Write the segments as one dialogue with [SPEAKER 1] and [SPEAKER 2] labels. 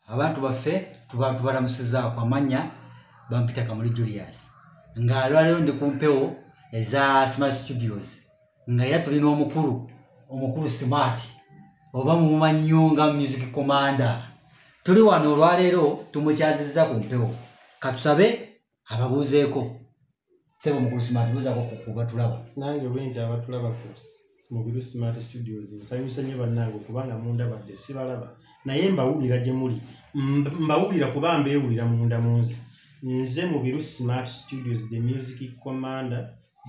[SPEAKER 1] abantu baffe tuba tubalamusizaako amanya bampita kamuli julius nga alwaleero ndi ku mpewo eza smart studios nga era tulina omukulu omukulu smart oba mumumannyo nga music commander tuli wano olwaleero tumukyaziza ku mpewo katusabe ababuuzeeko sebo mukulu smart buuzako kubatulaba nange obwenja abatulaba
[SPEAKER 2] ku mubiru smart studios nsanyusa nnyo bannange okubanga mundabadde sibalaba naye mbawulira gye muli mbawulira kuba mbeewulira munda munze nze mubiru smart studios the music commander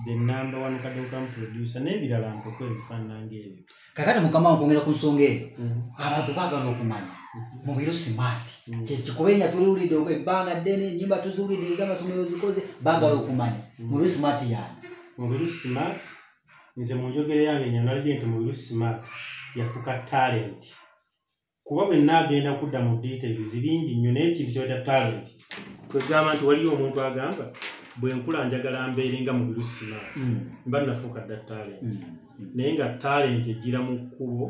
[SPEAKER 2] the number one kadokamu producer n'ebirala nkoko ebifaanana ng'ebyo kakati mukama wankwongera
[SPEAKER 1] ku nsonga eyo mhm. abantu baagala okumanya mhm. mubiro simaati mhm. kyekikuba enya tuliwulidde ebbanga ddene enyimba tuziwulidde ezamasomero zikoze baagala okumanya mubiro simaati yani mubiro simaati
[SPEAKER 2] nze mu njogera yange nyonalije nti mubiro simaati yafuka talenti kuba bwe nnaagenda kudda mu details bingi nnyo naye ekintu kyoyita talent kwegamba nti waliyo omuntu agamba bwe nkula njagala mbeere nga mu birusima mm. mba nnafuuka dda talent mm. Mm. naye nga talent ejjira mu kkubo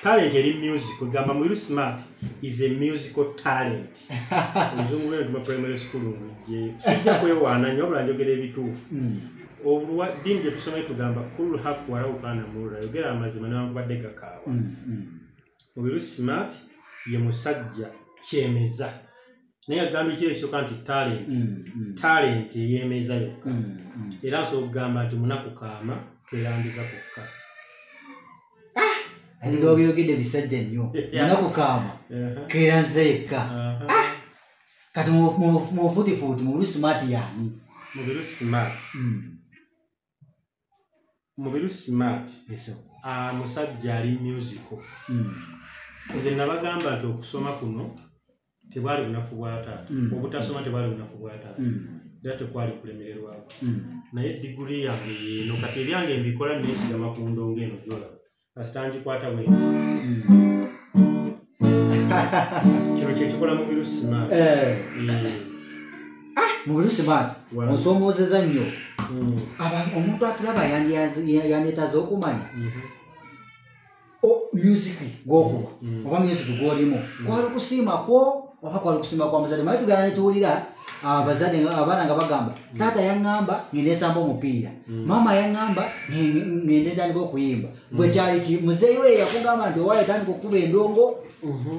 [SPEAKER 2] talent eri music ogamba mwiru smart is a musical talent oluzungu lwe ntuma primary school nje sijja kwewaana nyo wabula njogera ebituufu hmm. obulwa dini gye tusoma etugamba kulu haku waraukana murura yogera amazima newankubadde gakaaba hmm, hmm. obiru smart ye musajja kyemeza naye agambye kiri ekisooka nti talent mm, mm. talent eyemeza yokka mm, era nsobola okugamba nti munaku kaama kerandiza kokka ah!
[SPEAKER 1] ebigawo byogedde bisajja nnyo munaku kaama uh-huh. kerandiza yekka uh-huh. ah! kati mufutifuuti mubiru smart yaani mubiru smart
[SPEAKER 2] mubiru smart ah, musajja ali musical hmm. nze nabagamba nti okusoma kuno tebwali bunafu bwa taata hmm. obutasoma tebwali bunafu bwa taata hmm. era tekwali kulemererwako naye diguli yange yeno kati ebyange mbikola nesigama ku ndongo eno gyolaba kasita ngikwata bwe kino kyekikola mubiru smart eh.
[SPEAKER 1] ah, mubiru smart onsomoozeza nnyo hmm. omuntu atulaba yandetaza okumanya mhm. music gwokuba hmm. oba music gwolimu hmm. kwali okusiima kwo oba kwali okusiima kwa muzadde maye tugana netuwulira abazadde nga- abaana nga bagamba taata yaŋŋamba ngende nsamba omupiira maama yaŋŋamba nge- ngende ntandika okuyimba gwe kyali ki muzeeyi we yakugamba nti owaye tandika okukuba endongo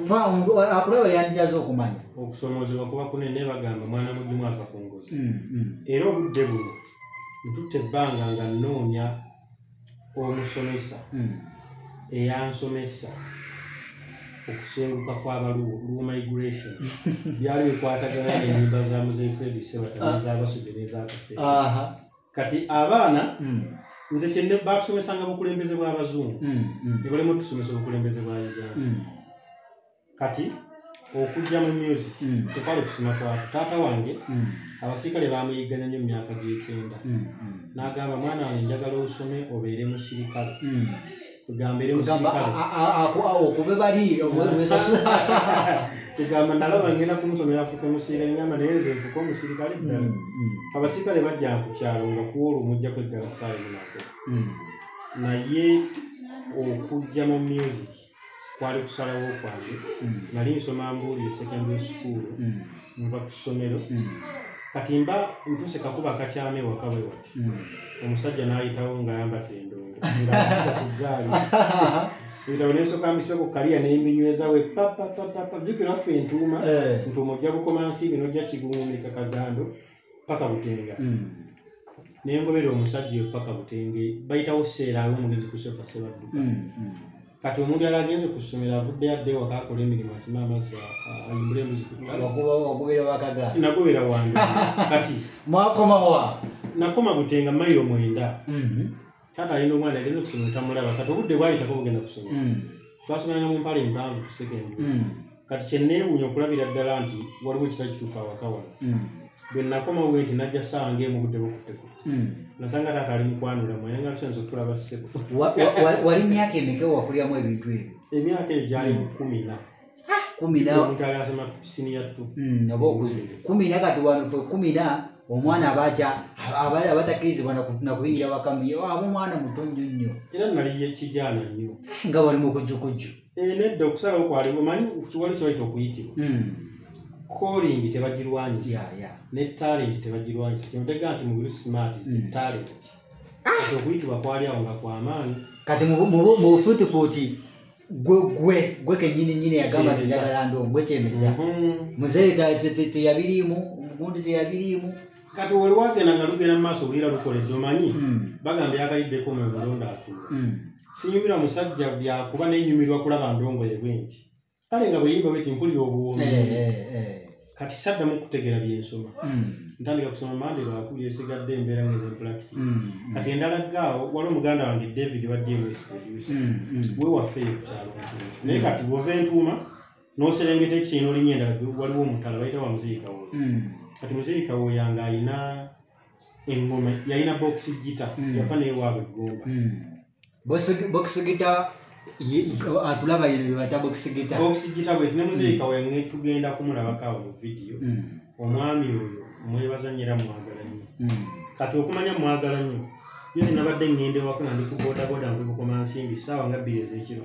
[SPEAKER 1] Pa, omuntu akulaba yandyaza okumanya okusoomoozebwa kuba
[SPEAKER 2] kunene bagamba mwana mugimu ava ku ngozi Mm, mm. era obudde buno ntutte ebbanga nga nnoonya omusomesa hmm. eyansomesa okusenguka kwabaluwo luwo migration byali bikwatagana nenyimba za muzeyi fred sebatabazabasude ah. nezakafe kati abaana hmm. nze kyenne batusomesanga bukulembeze bwabazungu hmm, nebalemu otusomesa obukulembeze bwa uganda kati okujja mu music mm. tekwali kusoma kwako taata wange mm. abasirikale bamuyigganya nnyo mumyaka gyekyenda mm, mm. nagamba mwana wange njagala osome obeere musirikale mm.
[SPEAKER 1] egamba
[SPEAKER 2] nalaba ngenda kumusomera afuke musirikale ngamba naye nze nfuke omusirikale ddala mm, mm. abasirikale bajja ku kyalo nga kuolwo mujja kweggala saayi munako mm. naye okujja mu music kwali kusalawo kwange mm. nali nsoma mbuulire secondary school mm. nva ku ssomero mm. kati mba ntuse kakuba kakyama ewaka bwe wati omusajja n'ayitawo ng'ayambadde endongo ngakugaali ebitabo nensoka mbiseko kaliya nembinyweza we papapapapa jukira ffe entuuma eh. ntuuma ojja bukoma nsi bino ojja kigumumika kagando paka butenga mm. nengobera omusajja oyo paka butenge bayitawo seera ali omugezi ku sofa sebadduka mm, mm. kati omuntu yali agenze ku ssomero avuddeyo adde waka akola emirimu akima amazzi ayimbula embuzi kugobera wakaga
[SPEAKER 1] nagobera wange
[SPEAKER 2] kati mwakomawa
[SPEAKER 1] nakoma
[SPEAKER 2] butenga mayiro mwenda mm-hmm. taata alina omwana agenda okusomero tamulaba kati obudde bwayitako bugenda kusomero hmm. twasomanga mu mpala empanvu ku sekendi hmm. kati kyenneewuunya okulabira ddala nti waliwo ekitali kituufu awaka wano hmm. bwe nakomawo bwe nti najja ssaawa ngaemu budde bukutteko nasanga taata ali mukwanula mwena nga tusanza okutulaba ssebo wali
[SPEAKER 1] myaka emeka wakuliramu ebintu ebyo emyaka egyo gyali
[SPEAKER 2] kumi na kumi na omuntu ali asoma siniya tu Mm, oba okuze kumi
[SPEAKER 1] na kati wano fe kumi na omwana abaca abatakkirizibwa naku- nakuyingira wakami aba omwana muto nnyo nnyo
[SPEAKER 2] era nali
[SPEAKER 1] yekijaana nnyo nga bali mu
[SPEAKER 2] kujjukujju
[SPEAKER 1] Eh,
[SPEAKER 2] nedda okusalawo kwaliwo manyi kiwali kyebayita okuyitibwa Mm, kolingi tebagirwanyisa ya, ya. ne talenti tebagirwanyisa kino tega nti mubiru smart is Mm. talent Kati okuyitibwa kwali awo nga kwamaanyi kati mu bu- mu bu-
[SPEAKER 1] mu bufuutifuuti gwe gwe gwe kenyini nyini yagamba Kyemeza. teyagala ndo gwe kyemeza Mhm. muzeeyi ta- te- te- teyabiriimu omugundi teyabiriimu kati wali wagenda
[SPEAKER 2] nga lugenda mu maaso bwira lukoledde omanyi Mm. bagamba yakaliddeko mu mulonda atuma Mm. sinyumira musajja byakuba nenyumirwa kulaba ndongoye bwenti kale nga bweyimba weti mpulira obuwoomi Eh, eh, eh. kati saddamu okutegeera byensoma hmm. ntandika kusoma mande lwakuli esigadde embeera ngeze practice hmm, hmm. kati endala gaawo waliwo muganda wange david wa dms producer we wafeeyo kukyalo naye kati wova entuuma noserengeta ekiseera nolinya endala waliwo omutala bayita wa muzeeyi kawo kati muzeeyi kawo yange alina engoma yalina bokisi gita yafa naye waabwe egomba
[SPEAKER 1] bokisigita atulaba yino bebata bokisigita bokisigita bwe ne
[SPEAKER 2] muzeyi kawe mm. tugenda kumulabako awo mu vidiyo mm. omwami oyo mwebaza nyera mwagala nnyo mm. kati okumanya mwagala nnyo nyo zinabadde ngenda ewaka nga ndi ku bodaboda muli bukomansimbi saawa nga bbiri ezekiro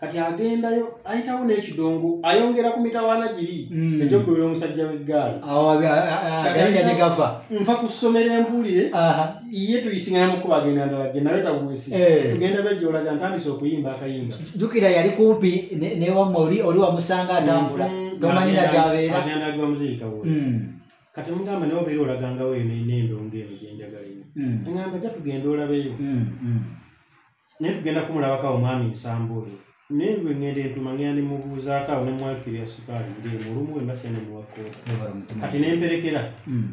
[SPEAKER 2] kati agendayo ayitawo n'ekidongo ayongera ku mitawaana giri mm. egyokubera omusajja w'eggaali gava nva ku ssomero embuulire ye tuyisingana mukuba agenda ndala ge nawe tagwesi eh. tugenda bejolaga ntandise okuyimba akayimba jukira yali kumpi
[SPEAKER 1] newamma oli oli wamusanga atambula mm-hmm. tomanyira gyabeera agenda gwa muziika wo
[SPEAKER 2] mm. kati mugamba nawe obeera olagangawo eno enendongo eno gyenjagala eno mm. ngamba ja tugenda olabeyo naye tugenda kumulabako awo mwami nsamba oyo naye lwe ŋŋenda entuma ŋŋenda ne mubuuzaako awo ne mwakiri ya sukaali ng'emu olumu emba sene muwakkoota kati ne mperekera hmm.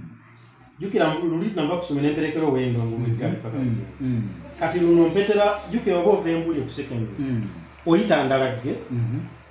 [SPEAKER 2] jjukira luli nava kusoma ne mperekera ow'endongo mu eggaali paka hmm. hmm. kati luno mpetera jjukira oba ova embuli okusekendula oyita ndalagge mm-hmm.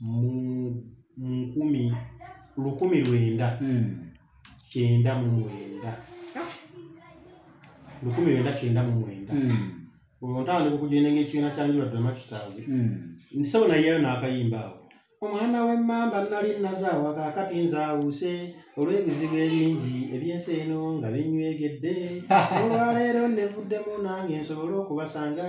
[SPEAKER 2] mu nkumi lukumi lwenda hmm. kyenda mu mwenda lukumi lwenda kyenda mu mwenda hmm. olwo ntandika okugenda ngaekibiina kyanjula dramakitazi hmm. nsebo nayeyo n'akayimba awo omwana w'emmamba nali nazaawa kaakati nzaawuse olw'ebizibu ebingi eby'ensi eno nga binywegedde olwaleero nevuddemu nange nsobole okubasanga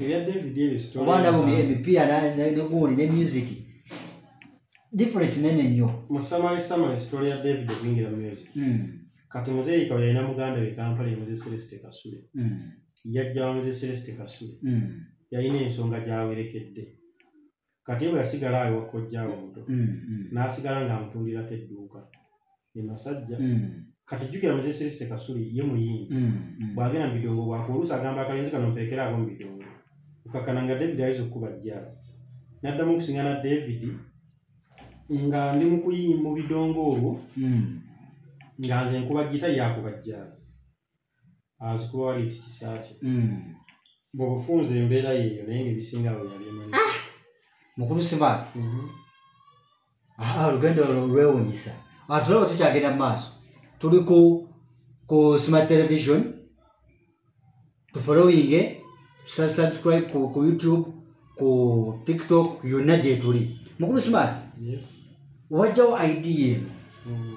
[SPEAKER 1] ebya david ebyo
[SPEAKER 2] story oba ndaba ya- emipiira
[SPEAKER 1] na- na- ne gooli ne music difference nene nnyo mu samale samale
[SPEAKER 2] story ya david okuyingira mu music Mm, kati muzeeyi kawe yalina muganda we kampala ye muzee celeste kasule mm, yajja wa muzee celeste kasule mm, yalina ensonga gyawerekedde kati bwe yasigala awe wakojjaawe omuto mm, mm. n'asigala ng'amutundirako edduuka e masajja mm. kati jjukira muze seliste kasuli ye muyimbi mm, mm. bwagenda mu bidongo bwako oluusi agamba akalenzi kano mpeekera abo mu bidongo okakana nga david ayinza okukuba jjaazi n'addamu okusingana david nga ndi mu kuyimba mu bidongo olwo nga nze nkuba gita yakuba jjaazi azikuba wali nti kisa kye Mm. bwebufunza embeera yeeyo naye ngaebisinga awo yabimanyi mukulu
[SPEAKER 1] simaati Ah, olugendo olwo lwewunyisa Ah, tulaba tukyagenda mu maaso tuli ku ku smart television tufollowinge tusa- subscribe ku, ku youtube ku tiktok yonna gyetuli mukulu smart Yes. wajjawo idea eno Mm.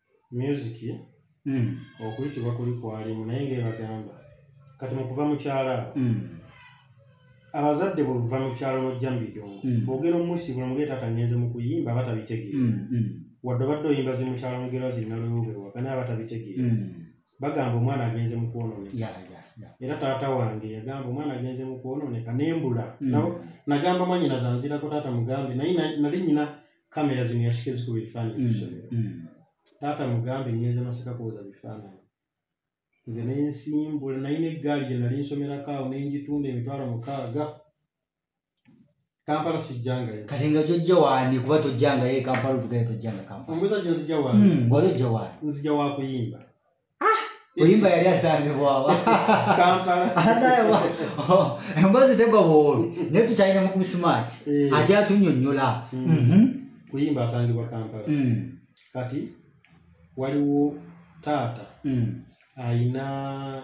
[SPEAKER 1] myuziki
[SPEAKER 2] mm. okuyitibwa kuli kwalimu naye ngaebagamba kati mukuva mukyala mm. abazadde bwebuva mukyalo nojja mubidongo mm. bwogera omusiibula mugee taata ngenze mukuyimba aba tabitegeera mm, mm. wadde obadde oyimba zimukyalo mugera zirina lwewubewa gana aba tabitegeera mm. bagamba omwana agenze mukwononeka yeah, yeah. era taata wange yagamba omwana agenze mukwononeka nembula mm. nagamba mwanyina zanzirako taata mugambe naye nali nyina kamera zino yasike zikuba ebifaananyi mm, bisomero mm. taata mugambe ngenza masaka kuwoza bifaananyi nze nensimbula nayina eggaali gye nali nsomerako awo nengitunda emitwalo mukaaga kampala sijjangayo kati nga gyojja waani
[SPEAKER 1] kuba tojjangayo e kampala otugayo tojjanga kampala omuzajja nzija waani hmm,
[SPEAKER 2] wali ojja waani nzija
[SPEAKER 1] wakuyimba oyimba yali asangibwawa emboozi tegwa bwobi naye tukyalina mu kusimaati eh. akyatunyonyola mm. mhm.
[SPEAKER 2] kuyimba asangibwa kampala mm. kati waliwo taata mm. ayina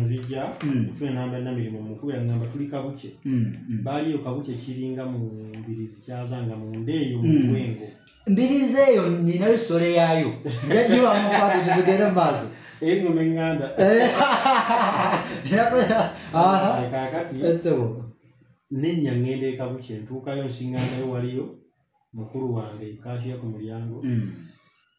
[SPEAKER 2] nzija mm. kufuna enamba namirimu mukubira ngamba tuli kabuce mm, mm. baaliyo kabuce kiringa mu mbirizi kyazanga munda eyo mubwengo mbirizi eyo
[SPEAKER 1] ninayo sitole yaayo njajiwamukwate tutugere maaso engoma enganda
[SPEAKER 2] eh. kakati nenya ngenda ekabuce ntuukayo nsingandayo waliyo mukulu wange kakiya ku mulyango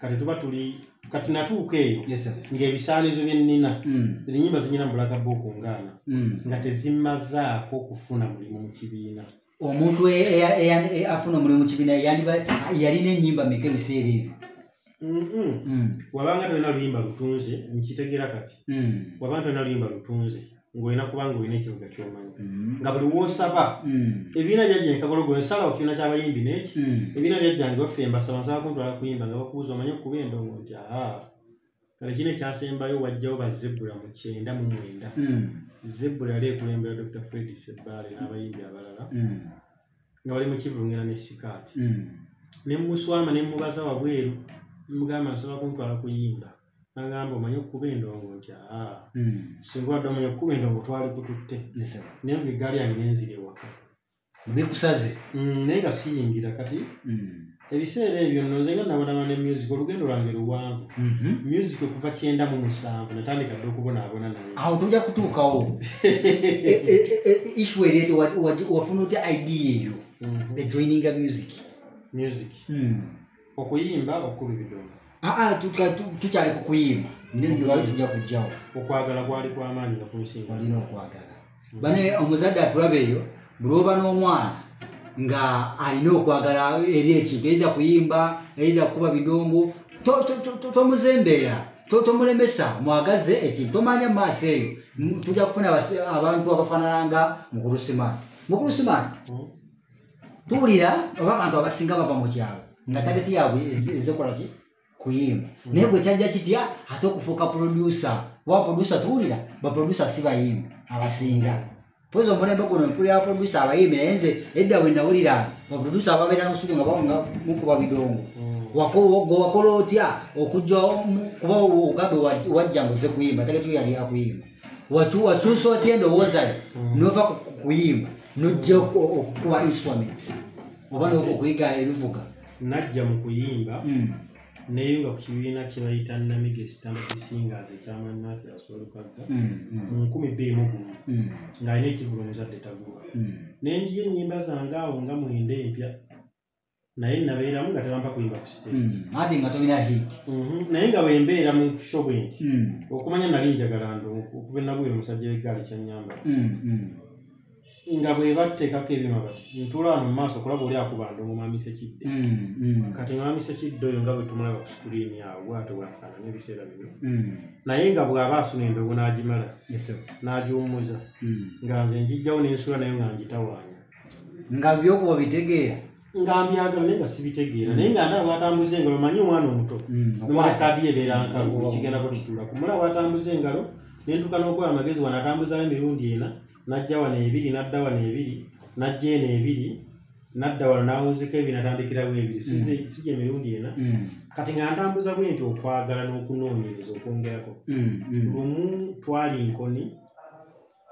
[SPEAKER 2] kati
[SPEAKER 1] tuba tuli
[SPEAKER 2] kati natuuka eyo ng'ebisaanizo bye nnina mm. ennyimba zinyina mu bulaga booku ngaana mm. nga tezimazaako kufuna mulimu mu kibiina omuntu e,
[SPEAKER 1] e, e, afuna omulimu mu kibiina yalina ennyimba meka ebiseera ebyo mm. wabanga
[SPEAKER 2] tolina luyimba lutunze nkitegeera kati wabanga tolina luyimba lutunze ng'olina kubanga olina ekivuga kyomanyi mm. nga buli wosaba mm. ebiina byajjankabologola esalawo kibiina kyabayimbi neki mm. ebiina byajjange baffe embasaba nsaba kuntwala kuyimba nga bakubuuza omanyi okuba endongo nti aa kale kino ekyasembayo wajjawo bazebula mu kyenda mu mwenda zebula yali ekulembera dr fred sebbaale n'abayimbi abalala nga bali mu kivungera ne sikaati ne muswama ne mubaza wabweru mugamba nsaba kuntwala kuyimba nagamba omanyi okukuba endongo nti aa hmm. singa wadde omanyi okukuba endongo twali kututte nenvuga eggaali yange nenzira ewaka bikusaze
[SPEAKER 1] hmm, naye nga
[SPEAKER 2] siyingira kati hmm. ebiseera ebyo nno nze nga nabalaba ne music olugendo lwange luwanvu mhm. music okuva kyenda mu musanvu natandika dde okubonaabona naye awo toja kutuukawo
[SPEAKER 1] e, e, e, isu eryete wafuna otya idea eyo mhm. ejoininga music music hmm.
[SPEAKER 2] okuyimba okukuba ebidomo aa ah, ah,
[SPEAKER 1] tukyali ku kuyimba newali tujja kujjawo okwagala kwali
[SPEAKER 2] kwamaanyi nga kunsinga olina okwagala
[SPEAKER 1] mm. bane omuzadde atulaba eyo bulwoba n'omwana nga alina okwagala eri ekintu eida kuyimba eida kukuba bidongo tomuzembeera tomulemesa mwagaze ekintu tomanya mu maaso eyo tujja kufuna abantu abafanana nga mukulusimaani mukulusimaani mm. tuwulira oba abantu abasinga bava mu kyalo nga tageti yaabwe ezekola ki kuyimba naye gwe kyajja kitya ate okufuuka produsa oba produsa tuwulira baprodusa si bayimbi abasinga pozi omulembe guno mpulira baprodusa abayimbi naye nze edda bwe nawulira baprodusa ababeera nosubi nga bawunga mukuba bidongo wakola otya okujja kuba ogambe wajja nguze kuyimba tageti yali akuyimba wakyusa otya endowoozayo nova kuyimba nojja okukuba instrument oba nokuyiga ebivuga najja mu
[SPEAKER 2] kuyimba hmm. neyunga ku kibiina kyebayita namige standard singers ekyaman mathias walukagga hmm, hmm. mu nkumi bbiri mu gumu ng'alina ekivulo omuzadde taguba nenjiyo enyimba zange awo nga mwenda empya naye nabeeramu nga tebampa kuyimba ku stage Mm. ate nga tolina hit
[SPEAKER 1] Mhm. naye nga bwembeera
[SPEAKER 2] mu show bwenti Mm. okumanya nali njagala ndo okuva enagwira omusajja w'eggaali kyanyamba Mm. Mm. nga bwe batteekako ebyuma bati ntula wano mu maaso kulaba oli akuba ndo ngomwamisa ekidde Mm. Mm. kati ngomwamisa ekidde oyo nga bwe tumulaba ku sikuliini awo bwatyo bwafaanana ebiseera bino Mm. naye nga bw'aba asuna endogo n'agimala Yes, sir. n'agiwummuza Mm. nga nze njijjawo n'ensula nayo nga ngitawaanya nga
[SPEAKER 1] byokuba bitegeera nga mbyagala
[SPEAKER 2] naye nga sibitegeera naye nga ndaa bwatambuza engalo manyi omwana omuto Mm, nomala okwata. kaadi ebeera nkalu Okwata. ekigendako kitula kumala bwatambuza engalo nentuka n'okuwa amagezi wano atambuzayo emirundi ena najja wano ebiri nadda wano ebiri najja eno ebiri nadda wano nawunzika ebiri natandikirawo ebiri Size- sija emirundi ena Mm, kati nga ntambuza bwe nti okwagala n'okunoonyereza okwongerako mm, mm. lumu twali nkoni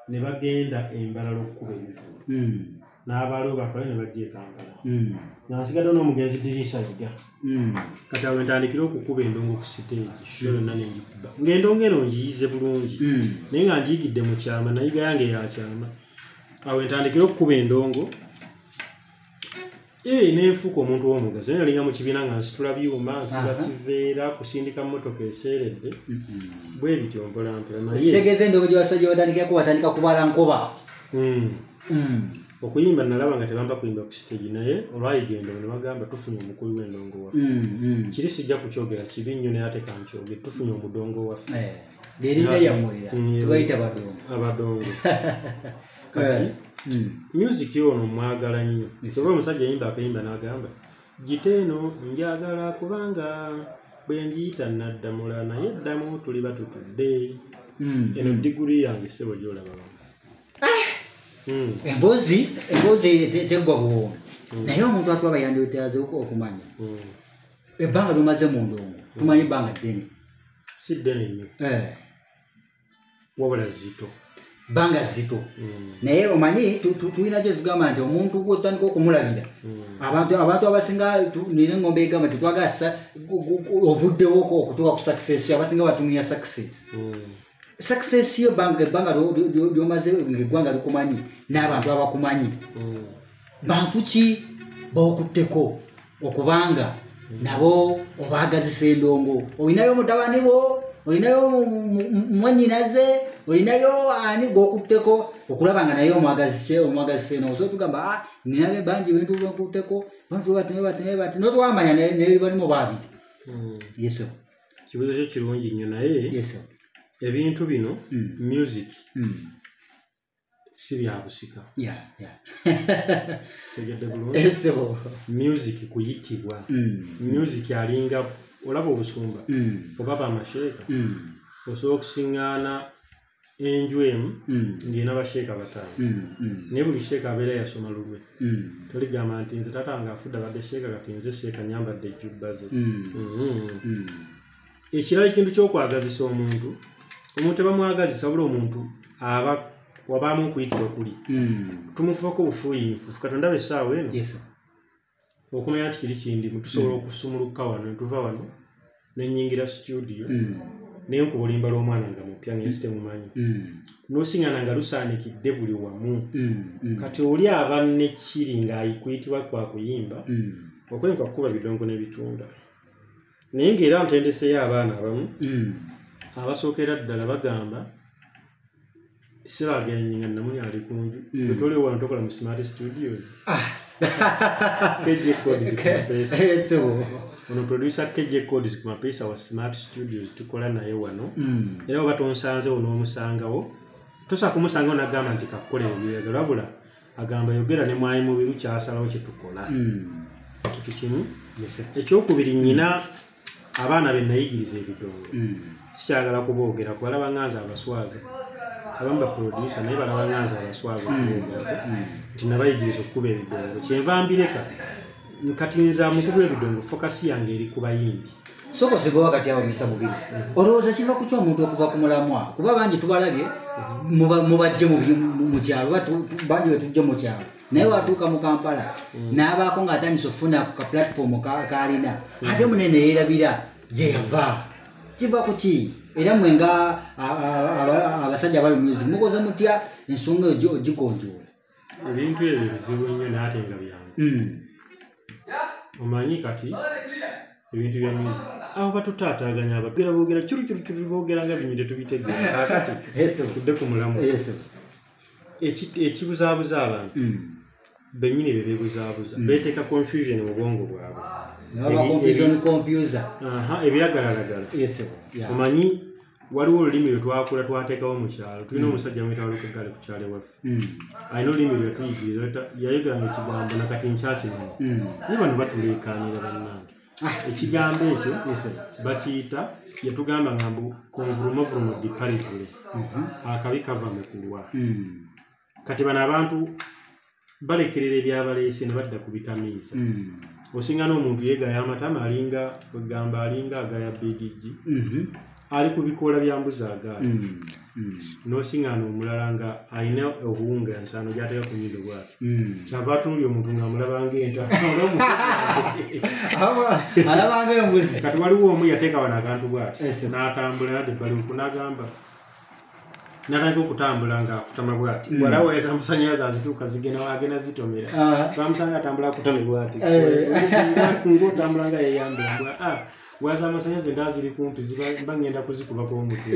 [SPEAKER 2] ne bagenda embalala okukuba ebivulu hmm. n'abaaliwo bakole ne bajja ekampala hmm. nga nsigadde n'omugenzi diriisa yiga hmm. kati awo entandikire okukuba endongo ku siteegi sho yonna nengikuba ng'endongo eno ngiyize bulungi naye nga ngiyigidde mu kyama nayiga yange yakyama awo entandikire okukuba endongo ee eh, nenfuuka omuntu womugazi naye nalinga mukibiina nga nsitula byuma nsiba kiveera kusindika motoka eseeredde bwe bityo mpolampola nayekitegeeza endogo gyewasajja
[SPEAKER 1] batandikako batandika kubala nkoba hmm. Hmm.
[SPEAKER 2] okuyimba nalaba nga tebamba kuyimba ku sitegi naye olwayigenda ono bagamba tufunye omukulu w'endongo waffe hmm, kiri sijja kukyogera kibi nnyo naye ate kankyogere tufunye omudongo waffe eh, lyerinda
[SPEAKER 1] lyamwera tubayita badongo abadongo
[SPEAKER 2] kati hmm. music ono mwagala nnyo oba omusajja yimba akayimba n'agamba gita eno njagala kubanga bwe ngiyita naddamula naye eddamu tuli batutudde hmm. eno diguri yange sebo gyolaba ah! hmm.
[SPEAKER 1] emboozi emboozi teggwa buwoomi naye omuntu atuwa bayandiotaze okumanya ebbanga lyomaze mu ndongo tumanyi ebbanga ddene si ddene
[SPEAKER 2] nnyo eh. wabula zito banga zito
[SPEAKER 1] mm. naye omanyi tulina kyetugamba nti omuntu gwotandika okumulabira mm. abantu abantu abasinga nina engombe egamba tetwagala ovuddewo okutuka ku success yo abasinga batunuya success mm. success yo ebbanga lyomaze eggwanga likumanyi n'abantu abakumanyi bantu ki bookutteko okubanga nabo obaagazisa endongo olinayo mutabani wo olinayo mwanyinaze olinayo ani gwokutteko okulaba nga naye omwagazise omwagazise noosa otugamba ah, ninabe bangi bintu bekutteko bantu batnebatnebati notwamanya nebalimu baabiri hmm. yeso kibuzo
[SPEAKER 2] kyo kirungi nnyo naye
[SPEAKER 1] ebintu bino
[SPEAKER 2] hmm. music hmm. si byabusika yeah, yeah. tegedde bulungi Eh, so, music kuyitibwa mm, music alinga olaba obusumba mm, oba bamasheeka mm, osobola okusiŋŋaana enju emu mm, ng'ena basheeka bataano mm, mm, naye buli sheeka abeera yasoma lulwe mm, toligamba nti nze taata wange afudde abadde sheeka kati nze sheeka nyambadde ejjubbaze mm, Mhm. mm. ekirala ekintu kyokwagazisa omuntu omuntu ebamwagazisa wabula omuntu aba wabaamu okuyitibwa kuli hmm. tumufuuka obufuuyinfu katonda be essaawa eno okumanya nti kiri kindimu tusobola hmm. okusumuluka wano netuva wano nenyingira situdio hmm. naye nkuba olimba lw'omwana nga mupya nga ensi temumanyi mm. nosingana nga lusaanikidde buli wamu mm, mm. kati oli aba nekiri ng'ayikuyitibwa kwakuyimba okwenka kukuba bidongo n'ebitunda naye ng'era ntendeseyo abaana abamu hmm. abasookera ddala bagamba siragenyi nga namuli ali ku nju hmm. wetoli wano tokola mu smart studios ah. ono producer kj codes ku mapeesa wa smart studios tukola naye wano hmm. era oba tonsanzewo n'omusangawo tosa kumusangawo nagamba nti kakukola ebyeyagala wabula agamba yogera ne mwayi mubiru kyasalawo kyetukola hmm. ekyo kimu ekyokubiri nyina abaana be nayigiriza ebidongo hmm. sikyagala kuboogera kubalaba nganza abaswaza abamu baprodusa naye balaba nganza abaswaza okuboogera hmm. nti nabayigiriza okukuba ebidongo kyenva mbireka kati nze amukuba ebidongo fokasi yange eri ku bayimbi soko sigowa kati
[SPEAKER 1] awo misa mubiri mhm. olowooza kiva kukya omuntu okuva ku mulamwa kuba bangi tubalabye mhm. mubajje mu kyalo bangi betujje mu kyalo naye watuuka mu kampala mhm. n'abaako ng'atandisa okufuna ku ka pulatifoomu kaalina ate munene yeerabira gye yava kiva ku ki era mwe nga abasajja abali music mukoze mutya ensonga eyo ogikonjoola ebintu
[SPEAKER 2] ebyo bizibu nnyo naate nga byangu hmm. omanyi kati ebintu bya muzi awo batutaataganya abagera boogera kirukirukiru boogera nga binyire tubitegeeratudde ku mulamu ekibuzaabuza abantu hmm. benyini be bebuzaabuza hmm. beeteeka confusion mu bwongo bwabwe ebiragalalagala omanyi waliwo olulimi lwe twakula twateekawo mu kyalo tulina hmm. omusajja mwita waluka eggale ku kyalo ewaffe hmm. alina olulimi lwe tuyigirira yayogeranga ekigambo nakati nkyakimanyi hmm. naye bano batuleekaanira bannange ah. ekigambo ekyo bakiyita yatugamba nga mbu konvulumovurumo diparivule mhm. akabi kava mu kulwa kati bano abantu balekerera ebyabaleese ne badda ku bitamiiza hmm. osinga n'omuntu yeegaya amatama alinga kwegamba alinga agaya bigigi mhm. ali ku bikoola bya mbuzi agaala hmm. hmm. n'osinga n'omulala nga alina obuwunga ensaano gyateka ku nyindo bwati kyava atunuli omuntu ngaamulabanga entaalabangayo
[SPEAKER 1] mbuzi kati waliwo omu yateeka
[SPEAKER 2] wano akantu bwati n'atambula nadde baliku n'agamba natandika okutambula nga akutama bwati mm. wala weza amasanyalaze azituuka zigenda agenda zitomera ah. bamusanga atambula akutame bwati eh. ngaotambula nga yeyambira ah, waza amasanyalaze nda ziri kumpi ziba ngenda kuzikubako omutwe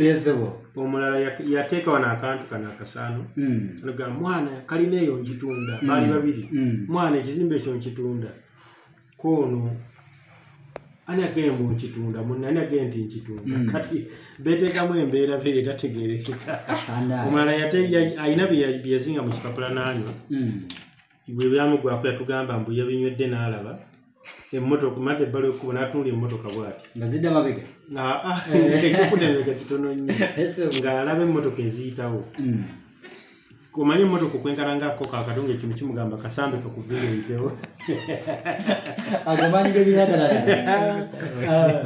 [SPEAKER 2] omulala yateeka wano akantu kano akasaano mm. ga mwana kalina eyo njitunda baali mm. babiri mwana ekizimba ekyo njitunda koono ani agee mbu nkitunda munne ani agee nti nkitunda mm. kati beteekamu embeera be etategerekeka omulala alina byeyazinga mu kipapula naanywa mm. bwe byamugwako yatugamba mbu yabinywedde n'alaba emmotoka made ebbala ekkubo n'atunula emmotoka bwati nga zidda mabega
[SPEAKER 1] ah, ah, eh.
[SPEAKER 2] ekikudemega kitono nnyo ng'alaba emmotoka eziyitawo mm. kumanya emmotoka okwenkana ngaako kakati nga ekintu kimugamba kasambe kakuviira ebitewo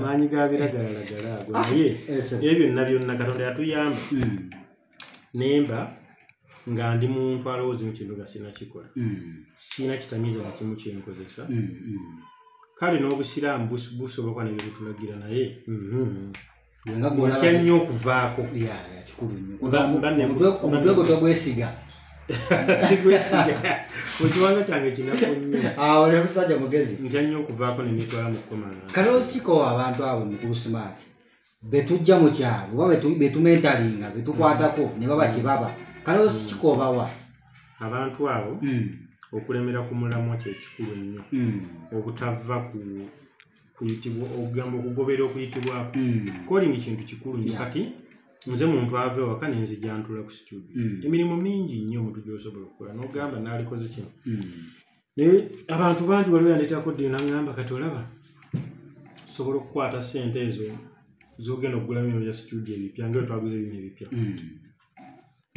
[SPEAKER 2] maanyi ga biragalalagala ago ah, naye ebyo byonna byonna katonda yatuyamba hmm. nemba nga ndi muntu alowooza mu kintu nga sirina kikola hmm. sirina kitamiiza na kimu kyenkozesa hmm, kale n'obusiraamu busobola kuba nebyo bitulagira naye watya nnyo okuvaako kikulu nnyomutwe
[SPEAKER 1] gwo togwesiga
[SPEAKER 2] sigwesiga mukiwanga kyange kinaku nnyo oli musajja mugezi
[SPEAKER 1] ntya nnyo okuvaako
[SPEAKER 2] nemitwala mu kukomana kale osikowa abantu
[SPEAKER 1] abo mukulu sumaati betujja mu kyalo oba betumentalinga betukwatako ne baba kyebaba kale osikikobawa abantu
[SPEAKER 2] abo hmm. okulemera ku mulamwa kyekikulu nnyo hmm. obutava ku kuyitibwa okugamba okugobera okuyitibwako mm. calling kintu kikulu nyo kati nze muntu ava ewaka nenzija ntula ku situdio mm. emirimu mingi nnyo omuntu gyosobola okukola nogamba nalikoze kino mm. naye abantu bangi waliwo yandetako ddi nagamba kati olaba sobola okukwata sente ezo zogenda okugulamu bino bya situdio ebipya nga etwaguza ebino ebipya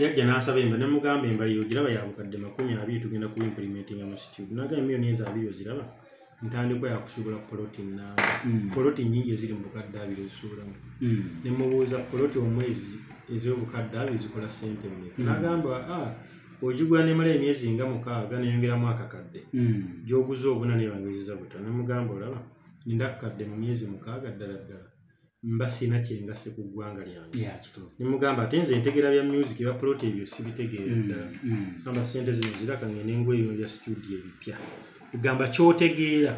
[SPEAKER 2] yajja n'asaba emba nemugamba emba yo giraba yabukadde makumi abiri tugenda ku implementinga mu situde nagamba emiyoni ezo abiri oziraba ntandikwa yakusuubula poloti namba mm. poloti nyingi eziri mu bukadde abiri ezisuubulamu mm. nemubuuza poloti omwezi ez'obukadde abiri zikola sente mmeka mm. nagamba ah, ogigula nemala emyezi nga mukaaga neyongeramu akakadde gyoguza obuna nebangeziza buta nemugamba olaba ninda akakadde mu myezi mukaaga ddala ddala mba sirina kyengasse ku ggwanga lyange nemugamba ate nze entegera bya music ebya poloti ebyo sibitegeera mm, ddala mm. samba sente zino ziraka ngende engula ebino bya studio ebipya egamba kyotegeera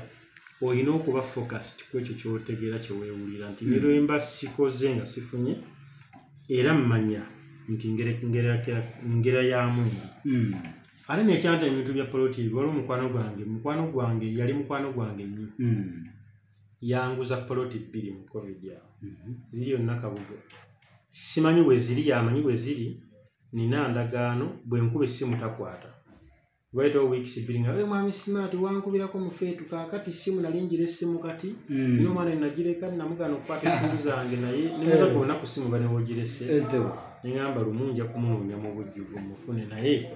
[SPEAKER 2] olina okuba focused ku ekyo kyotegeera kyewewulira nti mm. nerwemba sikoze nga sifunye era mmanya nti ngera ya mungu ate nekyanta ebintu bya poloti ebyo waliwo mukwano gwange mukwano gwange yali mukwano gwange nnyo yanguza poloti bbiri mu covid awo mhm. ziri yonna kabugo simanyi weziri yamanyi weziri nina ndagaano bwenkuba essimu takwata waitawo weeks bbiri nga mwami simaati wankubirako mufeetu kakati simu nali njira essimu kati mm. nina omwana enagireka namugana okukwata essimu zange naye nimuza eh. gona ku simu banewogirese neŋamba lumu nja kumunoonya mu bujjuvu mufune naye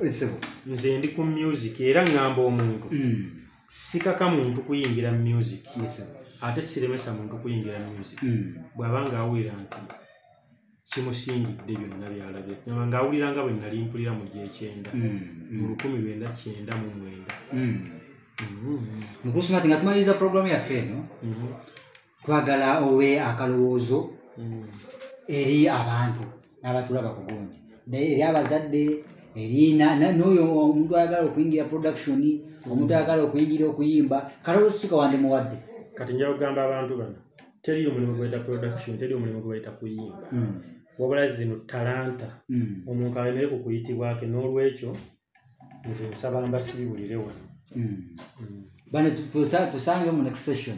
[SPEAKER 2] nze ndi ku music era ŋŋamba omuntu mm. sikaka muntu kuyingira mu music ate siremesa muntu kuyingira mu music hmm. bw'aba ng'awulira nti kimusingidde byonna byalabye nyama ng'awulira nga bwe nali mpulira mu gyekyenda hmm. mu lukumi lwenda kyenda mu mwenda hmm. mukusumati nga
[SPEAKER 1] tumaliriza puroguramu yaffe eno twagala owe akalowoozo mm. eri abantu n'abatulaba ku gundi eri abazadde erina noyo omuntu ayagala okuyingira production omuntu ayagala okuyingira okuyimba kalowoozo kika wandimuwadde kati nja kugamba
[SPEAKER 2] abantu bano teri omulimu gwebaita production teri omulimu gwebaita kuyimba mm. wabula zino talanta mm. omuntu alemere ku kuyitibwake n'olwekyo nze
[SPEAKER 1] nsaba
[SPEAKER 2] mbasiibulire
[SPEAKER 1] wano
[SPEAKER 2] mm.
[SPEAKER 1] mm.
[SPEAKER 2] bane
[SPEAKER 1] tusange
[SPEAKER 2] mu next
[SPEAKER 1] session